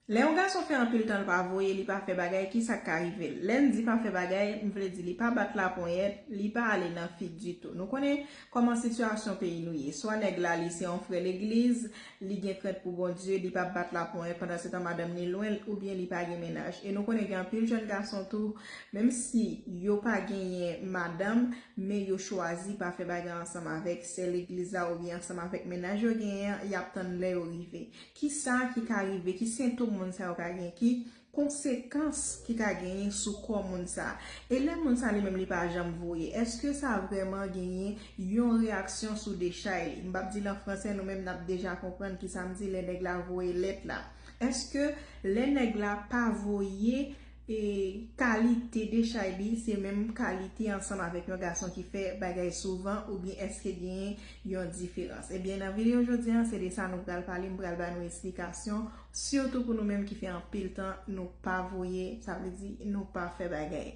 Lè yon gason fè anpil tan l pa voye, li pa fè bagay, ki sa k ka rive l? Lè n di pa fè bagay, m vle di li pa bat laponyèt, li pa ale nan fig ditou. Nou konnen kòman sitiyasyon peyi nou ye. Swa nèg la li se yon frè legliz, li gen krent pou Bondye, li pa bat laponyèt pandansetan madanm ni lwen l oubyen li pa gen mennaj. E nou konnen gen anpil jèn gason tou, menm si yo pa genyen madanm, men yo chwazi pa fè bagay ansanm avèk sè legliz la oubyen ansanm avèk mennaj yo genyen an, y ap tann lè yo rive. Ki sa ki ka rive? Ki sentom moun sa yo ka gen? Ki konsekans ki ka genyen sou kò moun sa? E lè moun sa li menm li pa janm voye? Eske sa vrèman genyen yon reyaksyon sou dechay li? M p ap di l an franse, nou menm n ap deja konprann ki sa m di lè nèg la voye lèt la. Eske lè nèg la pa voye. E kalite dechay li se menm kalite ansanm avèk yon gason ki fè bagay souvan oubyen èske genyen yon diferans? Ebyen nan videyo jodi an se de sa nou pral pale, m pral ba nou esplikasyon sitou pou nou menm ki fè anpil tan nou pa voye sa vle di nou pa fè bagay.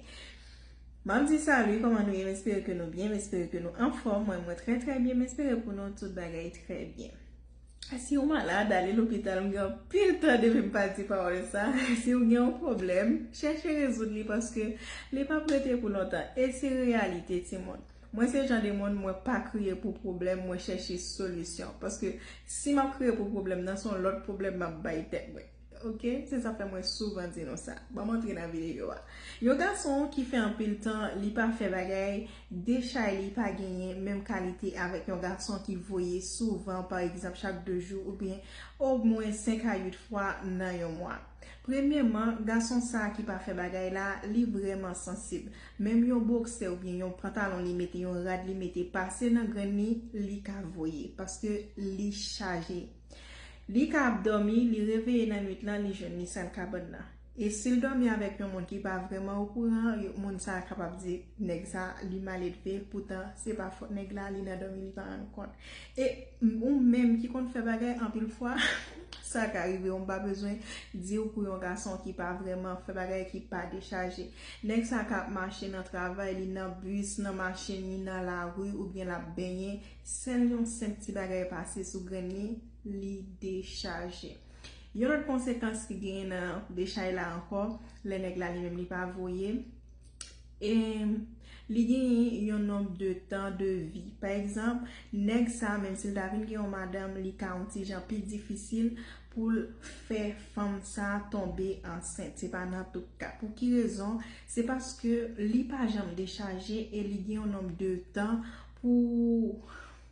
Map di salut kòman nou ye m espere ke nou byen m espere ke nou anfòm mwen mwen trè trè byen m espere pou nou tout bagay trè byen. Si ou malad, ale lopital. M gen anpil tan depi m pa di pawòl sa. Si ou gen yon pwoblèm, chèche rezoud li paske li pap rete pou lontan. E se reyalite timoun. Mwen se jan de moun mwen pa kriye pou pwoblèm, mwen chèche solisyon. Paske si m ap kriye pou pwoblèm nan, se yon lòt pwoblèm m ap bay tèt mwen. Ok se sa fè mwen souvan di nou sa. Banm antre nan video a. Yon gason ki fè anpil tan li pa fè bagay de chay li pa genyen menm kalite avèk yon gason ki voye souvan pa egzanp chak 2 jou oubyen omwen 5 a 8 fwa nan yon mwa. Premyeman gason sa ki pa fè bagay la li vrèman sansib menm yon boksè oubyen yon pantalon li mete yon rad li mete pase nan grenn li li ka voye paske li chaje. Li ka ap dòmi, li reveye nan nwit lan, li jwenn li sal kabann nan. E si l dòmi avèk yon moun ki pa vrèman okouran, moun sa a kapab di nèg sa a li maledve, poutan se pa fòt nèg la, li nan dòmi li pa rann kont. E ou menm ki konn fè bagay, anpil fwa sa ka rive w, m pa bezwen di w pou yon gason ki pa vrèman fè bagay, ki pa dechaje. Nèg sa a ka ap mache nan travay li, nan bis, nan machin li, nan lari oubyen l ap benyen. Sèl yon senp ti bagay pase sou grenn li, li dechaje. Yon lòt konsekans ki genyen nan dechay la ankò, lè nèg la li menm li pa voye, e li genyen yon nonb de tan de vi. Pa egzanp, nèg sa a menm si l ta vin gen yon madanm, li ka yon ti jan pi difisil pou l fè fanm sa a tonbe ansent. Se pa nan tout ka. Pou ki rezon? Se paske li pa janm dechaje e li gen yon nonb de tan. Pou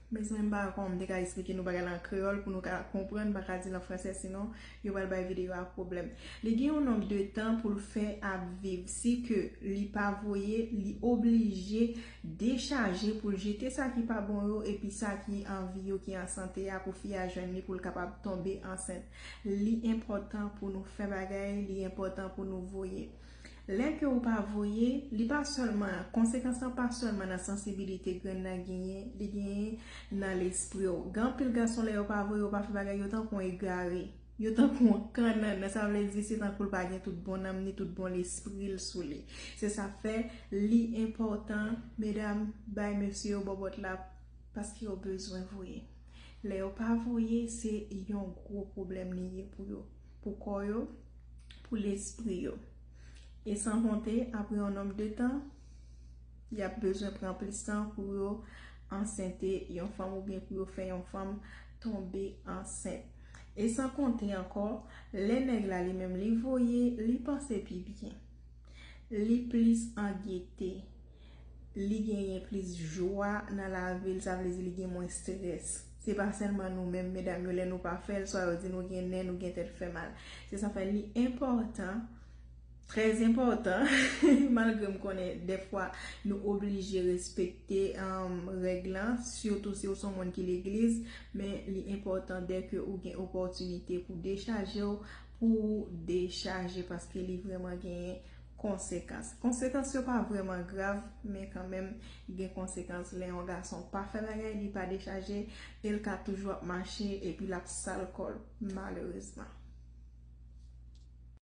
Mezanmi m pa wè kòman m te ka esplike nou bagay la an kreyòl pou nou ka konprann, m pa ka di l an fransè sinon yo pral bay videyo a pwoblèm. Li gen yon nonb de tan pou l fè ap viv, si ke li pa voye li oblije dechaje pou l jete sa ki pa bon yo epi sa ki an vi yo ki an sante a pou fi a jwenn li pou l kapab tonbe ansent. Li enpòtan pou nou fè bagay, li enpòtan pou nou voye. Lè ke ou pa voye, li pa sèlman, konsekans lan pa sèlman nan sansibilite grenn nan genyen, li genyen nan lespri w. Gen anpil gason lè yo pa voye yo pa fè bagay yo tankou yon egare, yo tankou yon kannannan, sa vle di se tankou l pa gen tout bon nanm ni tout bon lespri l sou li. Se sa k fè li enpòtan medam bay mesye yo bòbòt la paske yo bezwen voye. Lè yo pa voye se yon gwo pwoblèm li ye pou yo. pou kò yo, pou lespri yo. E san konte, apre yon nonb de tan, y ap bezwen pran plis tan pou yo ansente yon fanm oubyen pou yo fè yon fanm tonbe ansent. E san konte ankò, lè nèg la li menm li voye, li panse pi byen. Li plis an gete. li genyen plis jwa nan lavi l, sa vle di li gen mwens strès. Se pa sèlman nou menm medam yo lè nou pa fè l, swa yo di nou gen nè, nou gen tèt fè mal. Se sa fè li enpòtan, trè enpòtan, malgre m konnen dèfwa nou oblije respekte règ lan, sitou si ou se yon moun ki legliz, men li enpòtan dè ke ou gen opòtinite pou dechaje w, pou ou dechaje paske li vrèman genyen. Konsekans. Konsekans yo pa vrèman grav, men kanmenm gen konsekans lè yon gason pa fè bagay, li pa dechaje, e l ka toujou ap mache epi l ap sal kò l malerezman.